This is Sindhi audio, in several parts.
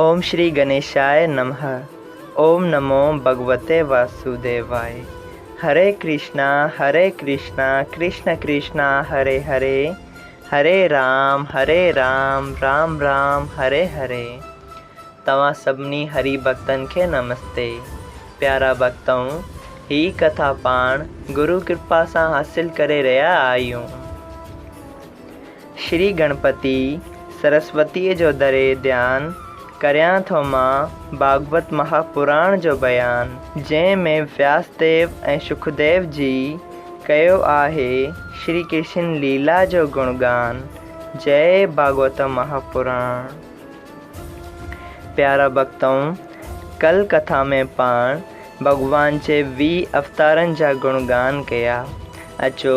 اوم شري گنيشائي نمه اوم نمو ڀڳوتي واسوديواي هري ڪرشنا هري ڪرشنا ڪرشنا ڪرشنا هري هري هري رام هري رام رام رام هري هري توهان سڀني هري ڀڳتن کي نمستي پيارا ڀڳتؤن هي ڪٿا پاڻ گرو ڪرپا سان حاصل ڪري رهيا آهيون. شري گڻپتي سرسوتيء جو دري ڌيان، ڪريان ٿو مان ڀاڳوت مها پراڻ جو بيان. جنهن ۾ وياسديو ۽ شڪديو جي، ڪيو آهي شري ڪرشن ليلا جو گڻ ڳان. جئه ڀاڳوت مها پراڻ. پيارا ڀڳتؤ! ڪل ڪٿا ۾ پاڻ ڀڳوان جي ويهه اوتارن جا گڻ ڳان ڪيا. اچو!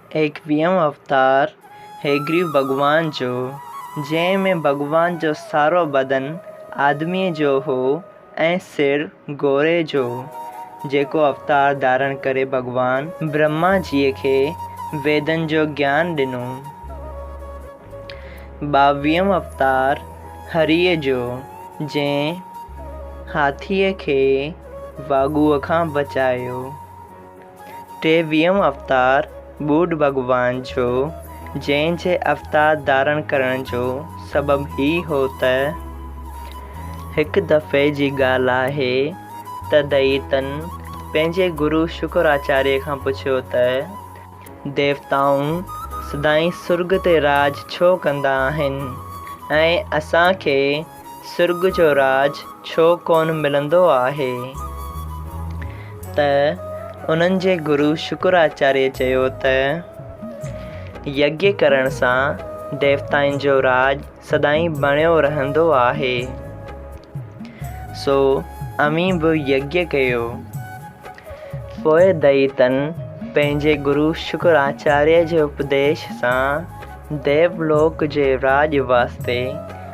ايڪويهون اوتار هيگريو ڀڳوان جو، جنهن ۾ ڀڳوان جو سارو بدن آدميء جو هو ۽ سر گوري جو، جيڪو اوتار ڌارڻ ڪري ڀڳوان برهما جيء کي ويدن جو گيان ڏنو. ٻاويهون اوتار هريء جو، جنهن هاٿيء کي واڳوء کان بچايو. ٽيويهون اوتار ٻوڏ ڀڳوان جو، جنهن جي اوتار ڌارڻ ڪرڻ جو سبب هي هو ته، هڪ دفعي جي ڳالهه آهي ته دئيتن پنهنجي گرو شڪراچاريه کان پڇيو ته، ديوتائون سدائين سرڳ تي راڄ ڇو ڪندا آهن ۽ اسان کي سرڳ جو راڄ ڇو ڪونه ملندو آهي؟ ته انهن جي گرو شڪراچاريه چيو ته، يگيء ڪرڻ سان ديوتائن جو راڄ سدائين بڻيو رهندو آهي. سو اوهين به يگيء ڪيو. پوء دئيتن پنهنجي گرو شڪراچاريه جي اپديش سان ديولوڪ جي راڄ واسطي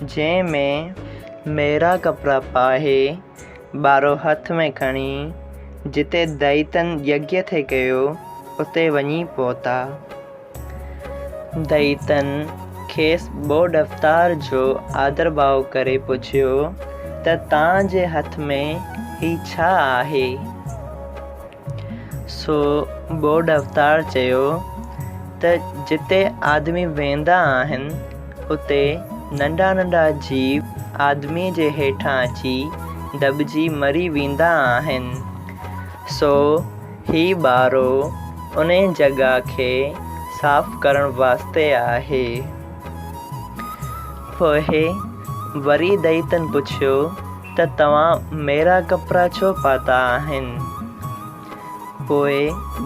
جنهن ۾ ميرا ڪپڙا پاهي، ٻارو هٿ ۾ کڻي، جتي دئيتن يگيا ٿي ڪيو، اتي وڃي پهتا. دئيتن کيس ٻئو ڏفتار جو آڌرڀاء ڪري پڇيو ته تان جي هٿ ۾ هي ڇا آهي؟ سو ٻوڏ اوتار چيو ته جتي آدمي ويندا آهن اتي ننڍا ننڍا جيو آدمي جي هيٺان اچي دٻجي مري ويندا آهن. سو هي ٻارو انهي جڳهه کي صاف ڪرڻ واسطي آهي. پوء وري دئيتن پڇيو. ته توهان ميرا ڪپڙا ڇو پاتا آهن؟ پوء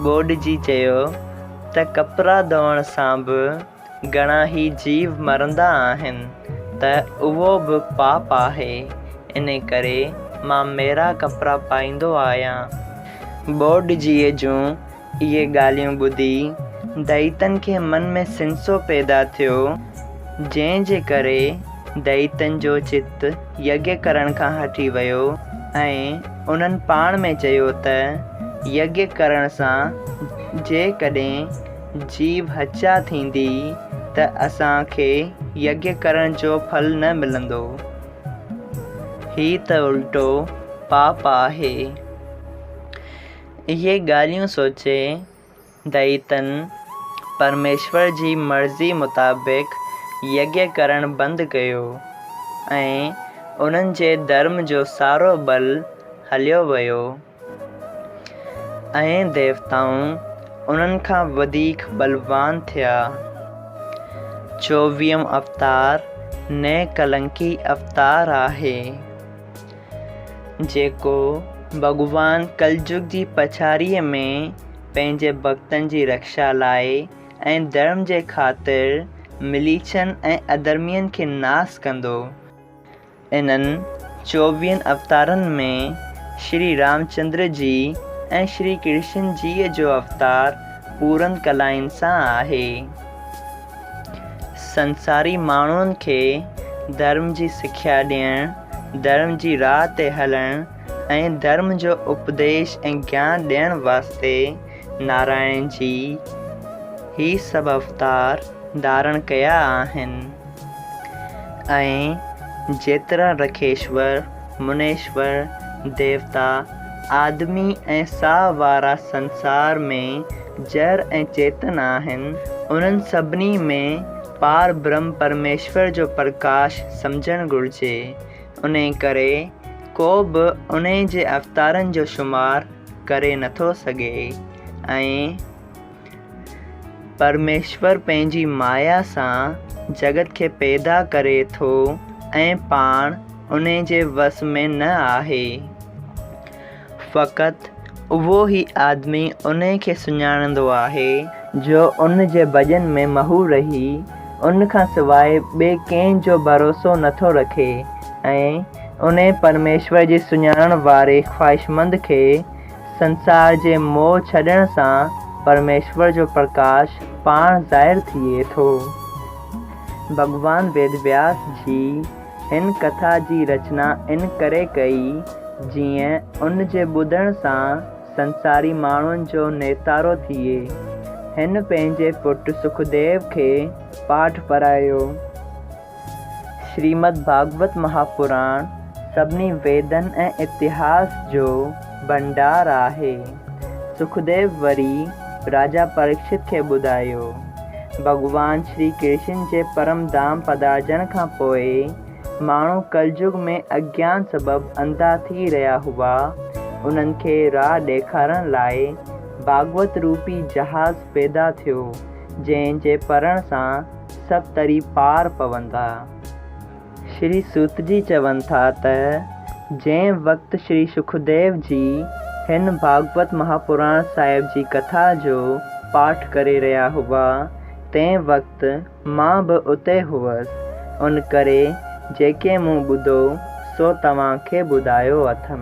ٻوڏ جي چيو ته ڪپڙا ڌوئڻ سان به گهڻا ئي جيو مرندا آهن ته اهو به پاپ آهي، ان ڪري مان ميرا ڪپڙا پائيندو آهيان. ٻوڏ جيء جون اهي ڳالهيون ٻڌي دئيتن کي من ۾ سنسو پيدا ٿيو، جنهن جي ڪري دئيتن جو چت يگي ڪرڻ کان هٽي ويو ۽ انهن پاڻ ۾ چيو ته يگي ڪرڻ سان جيڪڏهن جيو هچيا ٿيندي ته اسان کي يگي ڪرڻ جو ڦل نه ملندو. هي ته الٽو پاپ آهي. اهي ڳالهيون سوچي دئيتن پرميشور جي مرضي مطابق يگيا ڪرڻ بند ڪيو ۽ انهن جي ڌرم جو سارو ٻل هليو ويو. ائين ديوتائون انهن کان وڌيڪ ٻلوان ٿيا. چوويهون اوتار نئڪلنڪي اوتار آهي. جيڪو ڀڳوان ڪلجگ جي پڇاڙيء ۾ پنهنجي ڀڳتن جي رڪشا لاء ۽ ڌرم جي خاطر مليڇن ۽ اڌرمين کي ناس ڪندو. انهن چوويهن اوتارن ۾ شري رامچندر جي ۽ شري ڪرشن جيء جو اوتار پورن ڪلائن سان آهي. سنساري ماڻهن کي ڌرم جي سکيا ڏيڻ، ڌرم جي راهه تي هلڻ ۽ ڌرم جو اپديش ۽ گيان ڏيڻ واسطي نارائڻ جي هي سڀ اوتار ڌارڻ ڪيا آهن ۽ جيترا رکيشور، منيشور ديوتا، آدمي ۽ ساهه وارا سنسار ۾ جر ۽ چيتن آهن، انهن سڀني ۾ پار برهم پرميشور جو پرڪاش سمجهڻ گهرجي. انهيء ڪري ڪو به انهيء جي اوتارن جو شمار ڪري نٿو سگهي ۽. پرميشور پنهنجي مايا سان جڳت کي پيدا ڪري ٿو ۽ پاڻ ان جي وس ۾ نه آهي. فقط اهو ئي آدمي ان کي سڃاڻندو آهي. جو ان جي ڀڄن ۾ محو رهي ان کان سواء ٻئي ڪنهن جو ڀروسو نه ٿو رکي ۽ انهي پرميشور جي سڃاڻڻ واري خواهشمند کي سنسار جي موهه ڇڏڻ سان پرميشور جو پرڪاش پاڻ ظاهر ٿئي ٿو. ڀڳوان ويدوياس جي هن ڪٿا جي رچنا ان ڪري ڪئي جيئن ان جي ٻڌڻ سان سنساري ماڻهن جو نيتارو ٿئي. هن پنهنجي پٽ سکديو کي پاٺ پرايو. شريمد ڀاڳوت مهاپراڻ سڀني ويدن ۽ اتهاس جو ڀنڊار آهي. سکديو وري راجا پريڪشت کي ٻڌايو. ڀڳوان شري ڪرشن جي پرم ڌام پڌارجڻ کان پوء ماڻهو ڪلجگ ۾ اجيان سبب انڌا ٿي رهيا هئا، انهن کي راهه ڏيکارڻ لاء ڀاڳوت روپي جهاز پيدا ٿيو، جنهن جي پرڻ سان سڀ تري پار پوندا. شري سوت جي چون ٿا ته جنهن وقت شري سکديو جي هن ڀاڳوت مهاپراڻ صاحب جي ڪٿا جو پاٺ ڪري رهيا هئا تنهن وقت مان به اتي هئس ان ڪري جيڪي مون ٻڌو سو توهان کي ٻڌايو اٿم.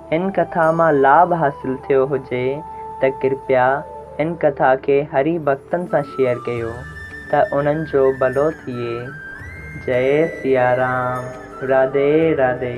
هن ڪٿا مان لاڀ حاصل ٿيو هجي ته ڪرپيا هن ڪٿا کي هري ڀڳتن سان شيئر ڪيو ته انهن جو ڀلو ٿئي. جئي سيارام راڌي راڌي.